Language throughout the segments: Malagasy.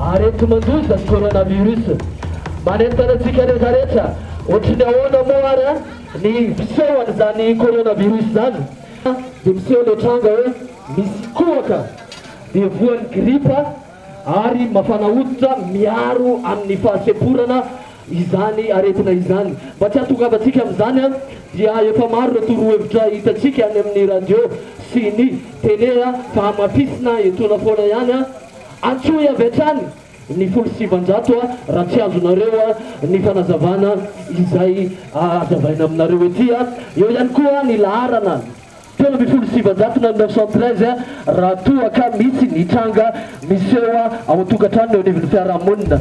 Aretin-mandoza ny coronavirus. Manentana antsika rehetra rehetra. Ohatry ny ahoana moa ary an ny fiseho an'izany coronavirus izany? Dia miseho ilay tranga hoe misy kohaka dia voan'ny gripa. ary mafana hoditra miaro amin'ny fahasemporana izany aretina izany. Mba tsy hahatongavantsika amin'izany dia efa maro ireo torohevitra hitantsika any amin'ny radio sy ny tele fa hamafisina etoana foana ihany. Antsoy avy hatrany ny folo sy sivanjato raha tsy azonareo ny fanazavana izay hazavaina aminareo ety. Eo ihany koa ny laharana. telo ambin'ny folo sy sivinjato na neuf cent treize raha toa ka misy ny tranga miseho ao an-tokantrano na eo anivon'ny fiarahamonina.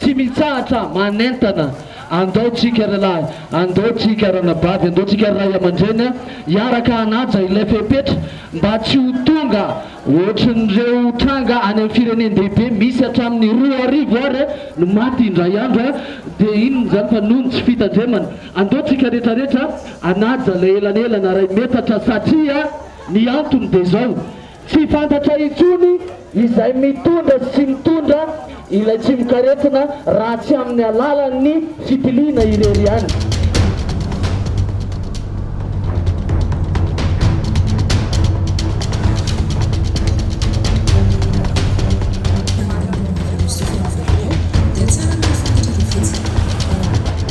Tsy mitsahatra manentana, andao tsika ry lahy, andao tsika ranabavy, andao tsika ry ray aman-dreny hiaraka hanaja ilay fepetra mba tsy ho tonga ohatrin'ireo tranga any amin'ny firenen-dehibe misy hatramin'ny roa arivo ary no maty indray andro dia inona izany fa noho ny tsy fitandremana. Andao tsika retraretra hanaja ilay elanelana iray metatra satria ny antony dia izao, Tsy fantatra intsony izay mitondra sy tsy mitondra ilay tsimokaretina raha tsy amin'ny alalan'ny fitiliana irery ihany.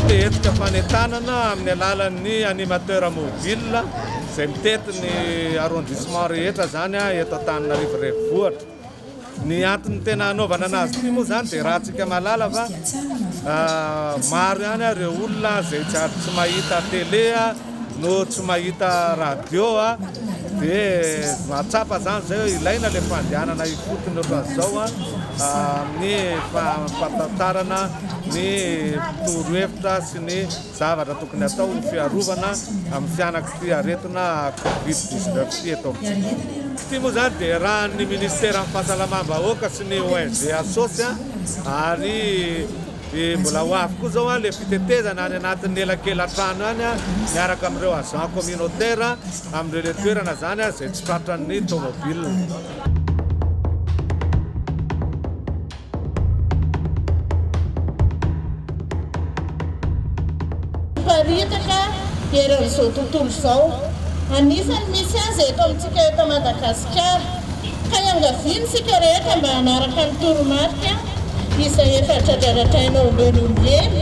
Te hetsika fanentanana amin'ny alalan'ny animateur mobile. izay mitety ny arrondissement rehetra izany eto Antananarivo Renivohitra. Ny antony tena hanaovana anazy ity moa izany dia raha tsika malala fa maro ihany ireo olona izay tsy ary tsy mahita télé no tsy mahita radio dia mahatsapa izany izay hoe ilaina ilay fandehanana ifotony ohatran'izao amin'ny fampatantarana ny torohevitra sy ny Zavatra tokony atao ny fiarovana amin'ny fianak'ity aretina covid dix neuf ity eto amintsika. Ity moa izany dia iarahan'ny Minisiteran'ny Fahasalamam-bahoaka sy ny ONG Asos ary mbola ho avy koa izao ilay fitetezana any anatin'ny elakelan-trano any miaraka amin'ireo agents communautaires amin'ireny toerana izany izay tsy tratran'ny tomobile. Miparitaka eran'izao tontolo izao. Anisan'ny misy azy eto amintsika eto Madagasikara. Ka iangaviana isika rehetra mba hanaraka ny toromarika izay efa dradradradraina ombieny ombieny.